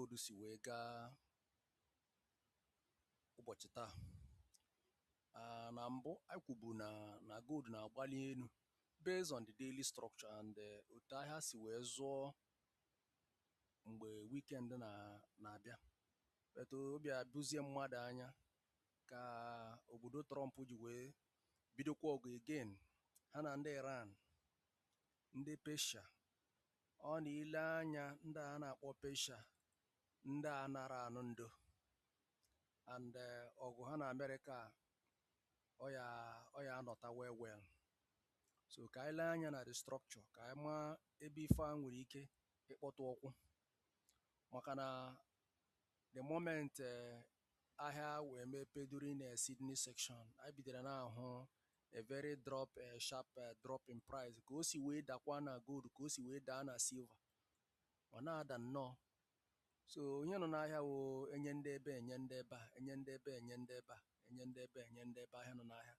episode si wee gaa ụbọchị taa ah, na mbụ anyị kwubu na na gold na-agbali elu based on the daily structure and eh, otu ahịa si wee zụọ mgbe weekend na na-abịa but ọ bịa bụzie mmadụ anya ka obodo Trump ji wee bidokwa ọgụ again ha na ndị Iran ndị Persia ọ na i lee anya ndị a na-akpọ Persia ndị a anara anụ ndo and eh, ọgụ ha na Amerịka ọ ya ọ ya anọta well well so ka anyị lee anya na the structure ka anyị maa ebe ife a nwere ike ịkpọtụ ụkwụ maka na the moment eh, ahịa wee mepe during a Sydney section anyị bidoro na-ahụ a very drop a sharp drop in price ka o si wee dakwa na gold ka o si wee daa na silver ọ na-ada nnọọ so ihe nọ n'ahịa wụ enye ndị ebe enye ndị ebe a enye ndị ebe enye ndị ebe a enye ndị ebe enye ndị ebe ihe nọ n'ahịa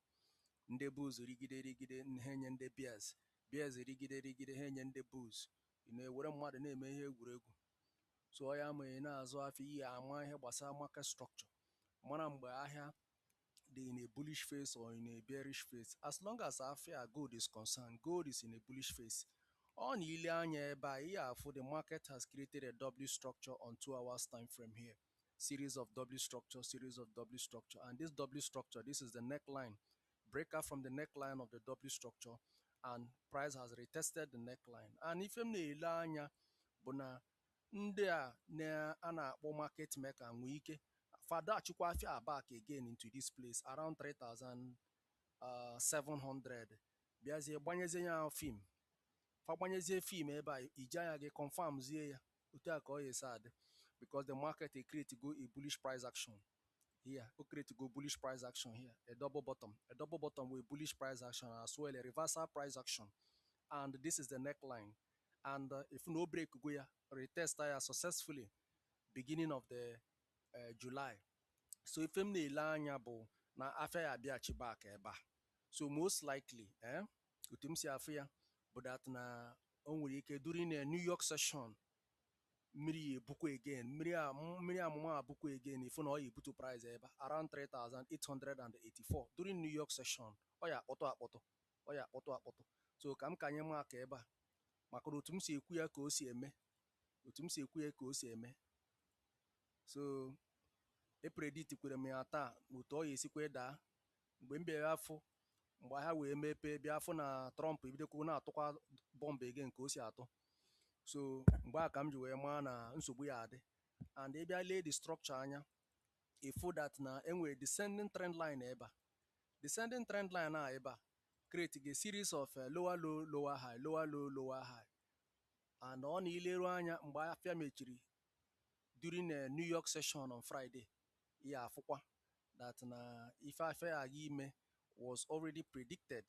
ndị bulls rigide rigide ha enye ndị bears bears rigide rigide ha enye ndị bulls Ị na-ewere mmadụ na-eme ihe egwuregwu. So ọ ya ma ị na-azụ afịa, ị ya ama ihe gbasara market structure, mara mgbe ahịa dị in a bullish phase or in a bearish phase. As long as afịa gold is concerned, gold is in a bullish phase. Ọ na i lee anya ebe a, ị ya afụ the market has created a W structure on two hours time frame here. Series of W structure, series of W structure, and this W structure, this is the neckline. breakout from the neckline of the W structure and price has retested the neckline and ife m na-ele anya bụ na ndị a na-a na-akpọ market maker nwee ike fa dọachikwa afia back again into this place around 3700 bịazie gbanyezie ya fim fa gbanyezie fim ebe a i ji anya gị confirmzie ya otu a ka ọ ya esi adị because the market e create go a bullish price action here o create go bullish price action here a double bottom a double bottom with bullish price action as well a reversal price action and this is the neckline and uh, ị fụ na o break go ya retest ya successfully beginning of the uh, July so ife m na-ele anya bụ na afịa ya abịaghachi back ebe a so most likely eh, otu m si afụ ya bụ that na o nwere ike during a New York session mmiri ya ebukwa again mmiri a mmiri amụma ebukwa again ị fụ na ọ ya ebutu price ebe a around 3884 during New York session ọ ya akpọtụ akpọtụ ọ ya akpọtụ akpọtụ so ka m ka anyị marka ebe a maka na otu m si ekwu ya ka o si eme otu m si ekwu ya ka o si eme so epredictkwere m ya taa na otu ọ ya esikwa daa mgbe m bịara afụ mgbe ahịa wee mepee bịa afụ na Trump ebidokwu na-atụkwa bọmbụ again ka o si atụ so mgbe a ka m ji wee maa na nsogbu ya-adị and ị bịa lee the structure anya ị fụ that na e nwere descending trend line ebe a descending trend line a abịa create a series of eh, lower low lower high lower low lower high and ọ na i leru anya mgbe afịa mechiri during a New York session on Friday, ị ya-afụkwa that na ife afịa a ga-eme was already predicted.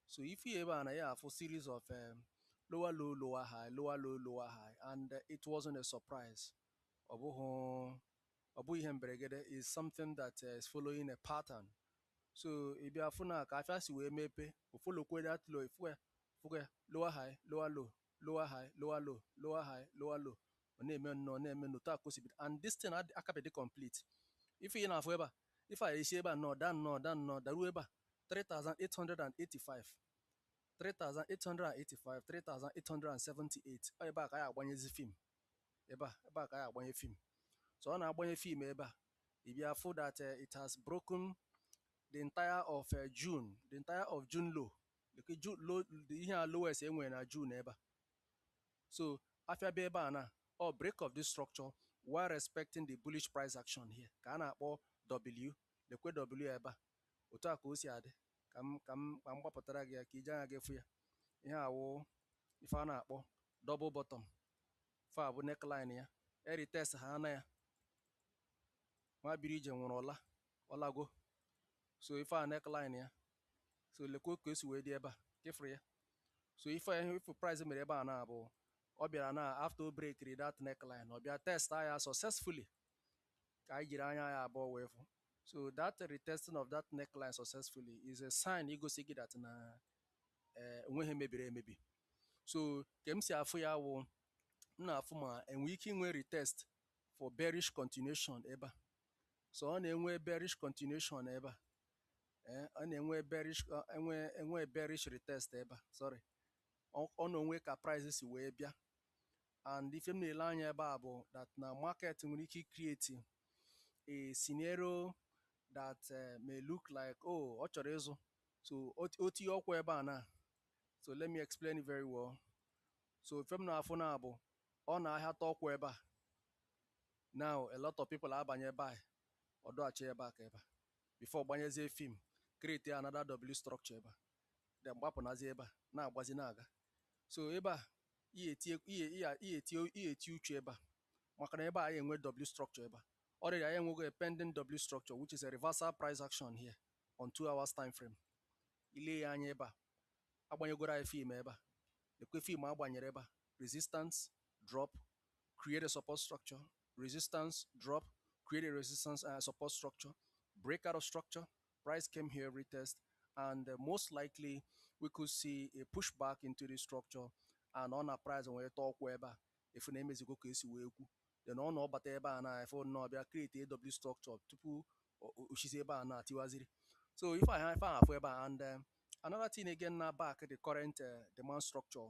So ị fụ ebe a na ị ya-afụ series of um, lower low lower high lower low lower high and uh, it wasn't a surprise. Ọ bụghị ọ bụghị ihe mberegede it's something that uh, is following a pattern. So ị bịa fụ na ka afịa si wee mepee, o followkwu that low, ị fụkwa ya, ị fụkwa ya, lower high lower low lower high lower low lower high lower low ọ na-eme nnọọ ọ na-eme n'otu a ka o si bido and this thing adị- akabedị complete ife ị na-afụ ebe a ife a esi ebe a nnọọ daa nnọọ daa nnọọ daruo ebe a 3885 3885 3878 ọ ebe a ka anyị agbanyezi film ebe a ebe a ka anyị agbanye film so ọ na-agbanye film ebe a ị bịa fụ that eh, it has broken the entire of eh, June the entire of June low Look, June low the ihe a lowest e nwere na June ebe a. So afịa bịa ebe a na ọ break of this structure while respecting the bullish price action ihe a ka a na-akpọ W lekwe W ebe a otu a ka o si adị ka m ka m ka m gbapụtara gị ya ka i ji anya gị fụ ya ihe a wụ ife a na-akpọ double bottom ife a bụ neckline ya e retest ha ana ya nwa biri ije nwụrụ ọla ọlago so ife a neckline ya so lekwa ka e si wee dị ebe a ka ị fụrụ ya so ife ya ife price mere ebe a now bụ ọ bịara na after o breakiri that neckline ọ bịa test ya successfully ka anyị jiri anya anyị abụọ wee fụ so that retesting of that neckline successfully is a sign igosi gị that na eh, enweghị ihe mebiri emebi so ka m si afụ ya wụ m na-afụ ma e nwe ike inwe retest for bearish continuation ebe a so ọ na e nwee bearish continuation ebe a ee eh, ọ na e nwee bearish e nwee e nwee bearish retest ebe a sorry ọ na o nwe ka price si wee bịa and ife m na-ele anya ebe a bụ that na market nwere ike create a scenario that eh, may look like oh ọ chọrọ ịzụ so o tinye ụkwụ ebe a now so let me explain very well so ife m na-afụ now bụ ọ na ahịa tinye ụkwụ ebe a now a lot of people abanye ebe a ọ dọghachi ebe a ka ebe a before gbanyezie fim create another w structure ebe a then gbapụnazie ebe a na-agbazi na-aga so ebe a ihe etinye ihe ihe ihe etinye ihe etinye uche ebe a maka na ebe a anyị enwe w structure ebe a already anyị enwego a pending w structure which is a reversal price action here on two hours time frame i lee ya anya ebe a agbanyegoro anyị fim ebe a lekwe fim agbanyere ebe a resistance drop create a support structure resistance drop, create a resistance uh, support structure, break out of structure, price came here, retest, and uh, most likely we could see a pushback into the structure and ọ na price wee tọọkwa ebe a ị fụ na e mezigo ka e si wee kwu then ọ na ọ bata ebe a na ị fụ na ọ bịa create a w structure tupu o sizi ebe a na-atiwaziri so ife ị ya afụ ebe a and uh, another thing again na back the current uh, demand structure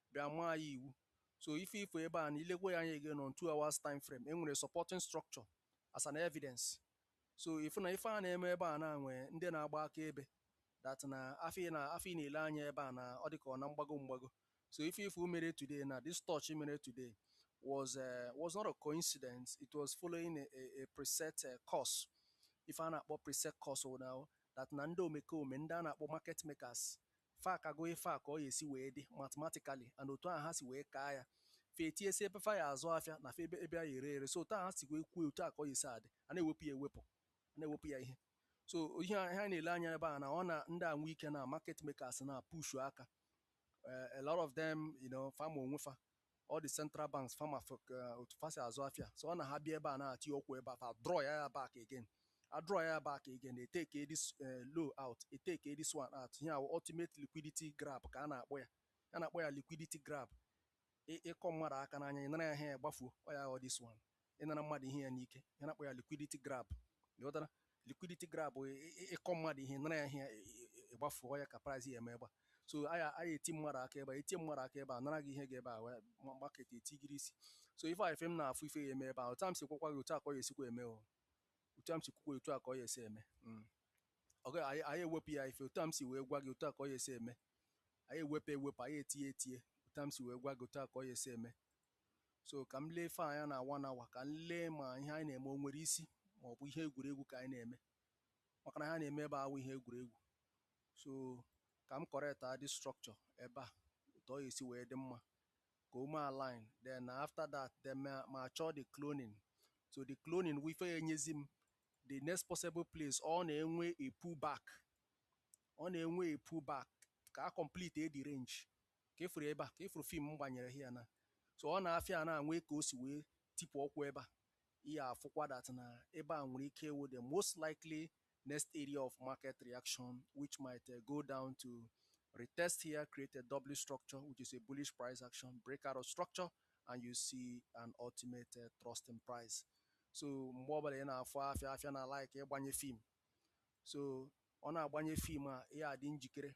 bịa maa ya iwu so ife ị fụ ebe a na i lekwe ya anya again on two hours time frame e nwere supporting structure as an evidence so ị fụ na ife a na-eme ebe a na e nwe ndị na-agba aka ebe that na-afụ ị na-afụ ị na-ele anya ebe a na ọ dị ka ọ na mgbago mgbago so ife ị fụ mere today na this touch mere today was uh, was not a coincidence it was following a, a, a preset uh, course ife a na-akpọ preset course now that na ndị omekome ndị a na-akpọ market makers Fa akago ife a ka ọ ya esi wee dị mathematically and otu ahụ ha si wee kaa ya. Fa etinyesị ebe fa ya azụ afịa na fa ebe ebe a ya ere ere. So otu ahụ ha si wee kwue otu a ka ọ ya esi adị. A na-ewepụ ya ewepụ. A na-ewepụ ya ihe. So ihe a- ihe anyị na-ele anya ebe a na ọ na ndị a nwee ike na market makers na push aka. Eh, a lot of them, you know, fa ma onwe fa. all the central banks fa ma otu fa si azụ afịa so ọ na ha bịa ebe a na ha tie ụkwụ ebe a fa draw ya ya back again a draw ya ya back again e take this eh, low out e take this one out ihe a wụ ultimate liquidity grab ka a na-akpọ ya a na-akpọ ya liquidity grab Ị- ịkọ mmadụ aka n'anya ị nara ya ihe ya gbafuo ọ ya wụ this one ịnara mmadụ ihe ya n'ike ihe a na-akpọ ya liquidity grab ị ghọtara liquidity grab bụ ị- ị- ịkọ mmadụ ihe nara ya ihe ị- ị- ịgbafuo ya ka price ya eme ebe a so a ya a ya eti mmadụ aka ebe a etie mmadụ aka ebe a nara gị ihe gị ebe a wee ma- market etigharị isi so ife a ife m na-afụ ife ya eme ebe a otu a m si gwakwa gị otu a ka ọ ya esikwa eme o otu a m si kwukwa otu a ka ọ ya esi eme Mm. ọ gaghị anyị anyị ewepụ ya ife otu a m si wee gwa gị otu a ka ọ ya esi eme anyị ewepụ ewepụ anyị etinye etinye otu a m si wee gwa gị otu a ka ọ ya esi eme so ka m lee ife anya na one hour ka m lee ma ihe anyị na-eme o nwere isi ma ọ bụ ihe egwuregwu ka anyị na-eme maka na ihe a na-eme ebe a awụ ihe egwuregwu so ka m correct the structure ebe a otu ọ ya esi wee dị mma ka o mee align then after that then m achọọ the cloning so the cloning wụ ife ya enyezi m the next possible place ọ na-enwe a pull back ọ na-enwe a pull back ka a complete the range ka efuru ebe a ka efuru fim m gbanyere ha ya na so ọ na afịa a na-enwe ka o si wee tipụ ọkwụ ebe a ị ya afụkwa that na ebe a nwere ike ịwụ the most likely next area of market reaction which might uh, go down to retest here create a W structure which is a bullish price action break out of structure and you see an ultimate uh, thrust in price so mgbe ọbụla ị na-afụ afịa afịa na like ịgbanye fim so ọ na agbanye fim a ya adị njikere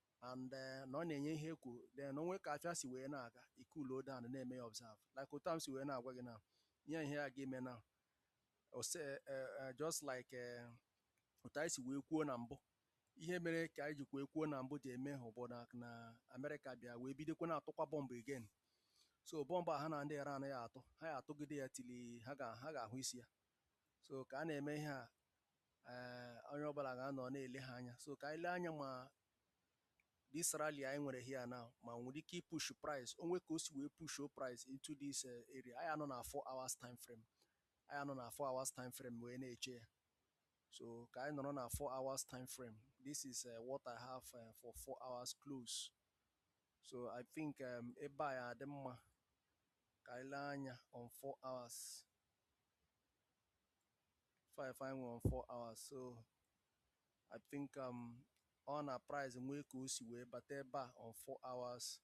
and eh, na ọ na-enye ihe ekwu then o nwe ka afịa si wee na-aga ị cool down na-eme ya observe like otu a m si wee na-agwa gị na ihe ihe a ga-eme na ose eh, eh, just like eh, otu anyị si wee kwuo na mbụ ihe mere ka anyị jikwa ekwuo na mbụ ji eme hụ bụ na na Amerịka bịa wee bidokwa na-atụkwa bọmbụ again so bọmbụ a ha na ndị Iran ya atụ ha ya atụgide ya till ha ga- ha ga-ahụ isi ya so ka a na-eme ihe a ee onye ọbụla ga-anọ na-ele ha anya so ka anyị lee anya ma this rally anyị nwere here now ma o nwere ike ipush price o nwe ka o si wee pushuo price into this eh, area anyị anọ na 4 hours time frame anyị anọ na 4 hours time frame wee na-eche ya so ka anyị nọrọ na 4 hours time frame this is uh, what i have uh, for 4 hours close so i think um, ebe a ya adị mma ka anyị lee anya on 4 hours ife anyị nwere on four hours so I think um, ọ na price nwee ka o si wee bata ebe a on four hours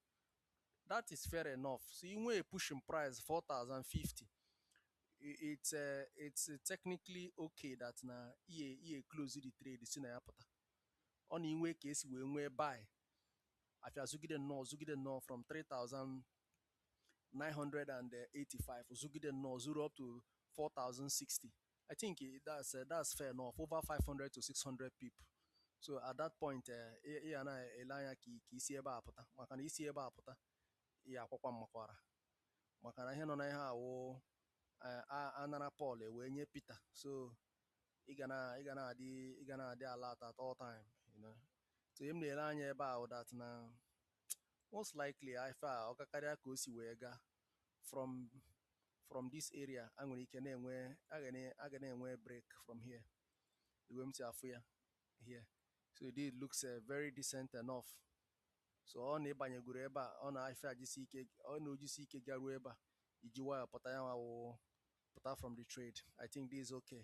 that is fair enough so ị nwee push in price 4050 it's uh, it's technically okay that na ị ya eclose the trade si na ya pụta ọ na i nwe ka i si wee nwee buy afịa zụgide nnọọ zụgide nnọọ from 3000 985 zụgide nnọọ zụrụ up to 4060 I think eh, that's uh, that's fair enough over 500 to 600 pips so at that point eh, ị ya na-ele anya ka i si ebe a pụta maka na i si ebe a pụta ị ya akwakwa m makwara maka na ihe nọ na ihe a wụ eh, a nara Pọl ewee nye Pita so ị ga na-adị ị ga na-adị alert at all time so ihe m na-ele anya ebe a wụ that na Most likely afịa ọ kakarịa ka o si wee gaa from from this area a nwere ike na-enwe a ga na-enwe break from here the way m si afụ ya here so it looks uh, very decent enough so ọ na ịbanyegoro ebe a ọ na afịa jisi ike ọ na o jisi ike garuo ebe a i ji wayọ pụta ya nwa pụta from the trade I think this is okay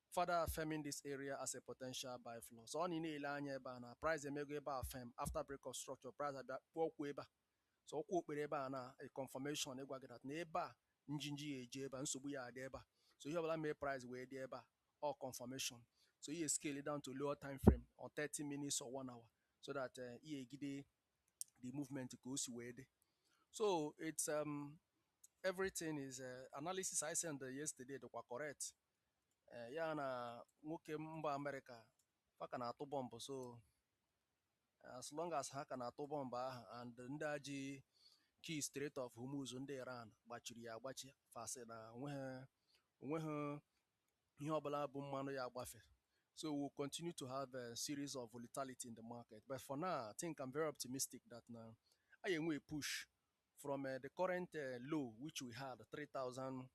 further affirming this area as a potential buy floor so ọ na ị na-ele anya ebe a na price emego ebe a firm after break of structure price abịa kpụọ ụkwụ ebe a so ụkwụ ọ kpụrụ ebe a na a confirmation ịgwa gị that na ebe a njinji ya eji ebe a nsogbu ya adị ebe a so ihe ọbụla mee price wee dị ebe a ọ confirmation so ị ya scale down to lower time frame or 30 minutes or one hour so that eh, ị ya-ejide the movement ka o si wee dị so it's um, everything is uh, analysis I sent yesterday dịkwa correct eh, ya na nwoke mba amerịka fa ka na-atụ bọmbụ so eh, as long as ha ka na-atụ bọmbụ ahụ and ndị a ji key Strait of Hormuz ndị iran gbachiri ya agbachi fa sị na o nweghị ihe ọbụla bụ mmanụ ya agbafe So we'll continue to have a series of volatility in the market. But for now, I think I'm very optimistic that na anyị ya-enwe push from uh, the current uh, low which we had 3,000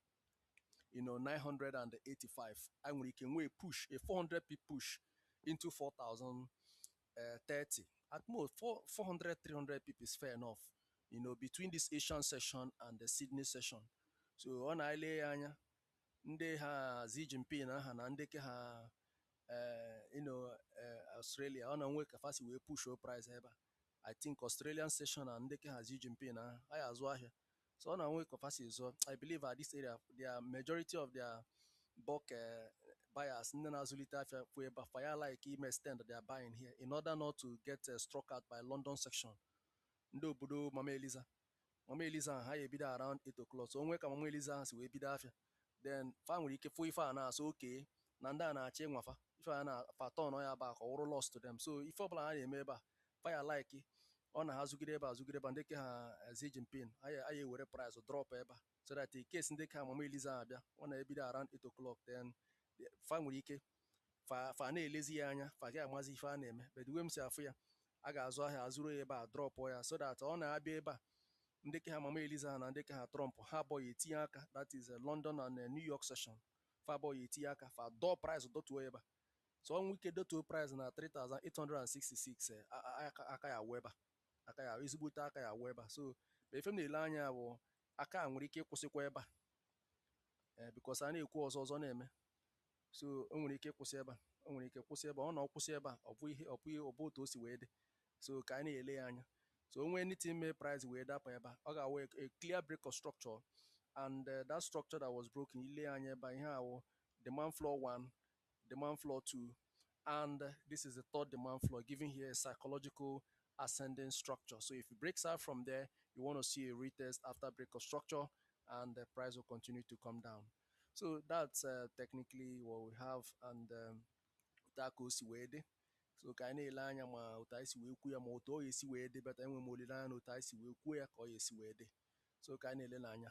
you know 985 anyị nwere ike nwee push a 400 pip push into 4,030 uh, at most 4, 400 300 pip is fair enough you know between this Asian session and the Sydney session so ọ na-ele ya anya ndị ha Xi Jinping aha na ndị ke ha uh, you know uh, Australia ọ na-enwe ka fa si wee pushuo price ebe a I think Australian session and ndị ke ha Xi Jinping aha ya azụ ahịa so ọ na-enwe ka fa si zụọ I believe at this area the majority of their bulk eh, buyers ndị na-azụlite afịa fụ ebe a fa ya like ime extend their buying here in order not to get eh, struck out by London session ndị obodo Mama Eliza mama eliza ahụ ha ya ebido around 8 o'clock so o nwee ka mama eliza ahụ si wee bido afịa then fa nwere ike fụ ife a na-asị okay na ndị a na-achọ ịnwa fa ife a na fa turn ya back ka ọ wụrụ loss to them so ife ọbụla ha na-eme ebe a fa ya like ọ na ha zụgide ebe a zụgide ebe a ndị ke ha eh, Xi Jinping a ya a ya ewere price drop ebe a so that in case ndị ke ha mama eliza ahụ bịa ọ na-ebido around 8 o'clock then fa nwere ike fa fa na-elezi ya anya fa ga-amazi ife a na-eme but the way m si afụ ya a ga-azụ ahịa a zụrụ ya ebe a drọpụ ya so that ọ na-abịa ebe a ndị ke ha mama eliza ha na ndị ke ha trump ha abụọ ya etinye aka that is eh, london and eh, new york session fa abụọ ya etinye aka fa dọọ price dọtuo ya ebe a so o nwere ike dọtuo price na 3866 eh, a- a- aka- aka ya awụ ebe a aka ya ezigbote aka ya awụ ebe a so ma ife m na-ele anya ya bụ aka a nwere ike ịkwụsịkwa ebe a ee because a na-ekwu ọzọ ọzọ na-eme so o nwere ike ịkwụsị ebe a o nwere ike kwụsị ebe a ọ na ọ kwụsị ebe a ọ bụ ihe ọ bụ ọ bụ otu o si wee dị so ka anyị na-ele ya anya so o nwee anything mee price wee dapụ ebe a ọ ga-awụ a clear break of structure and uh, that structure that was broken i lee anya ebe a ihe a wụ demand floor 1 demand floor 2 and uh, this is the third demand floor giving here a psychological ascending structure so if it breaks out from there you want to see a retest after break of structure and the price will continue to come down so that's uh, technically what we have and otu a ka o si wee dị so ka anyị na-ele anya ma otu anyị si wee kwuo ya ma otu ọ ga-esi wee dị but enwe m olileanya na otu anyị si wee kwuo ya ka ọ ga-esi wee dị so ka anyị na-ele n'anya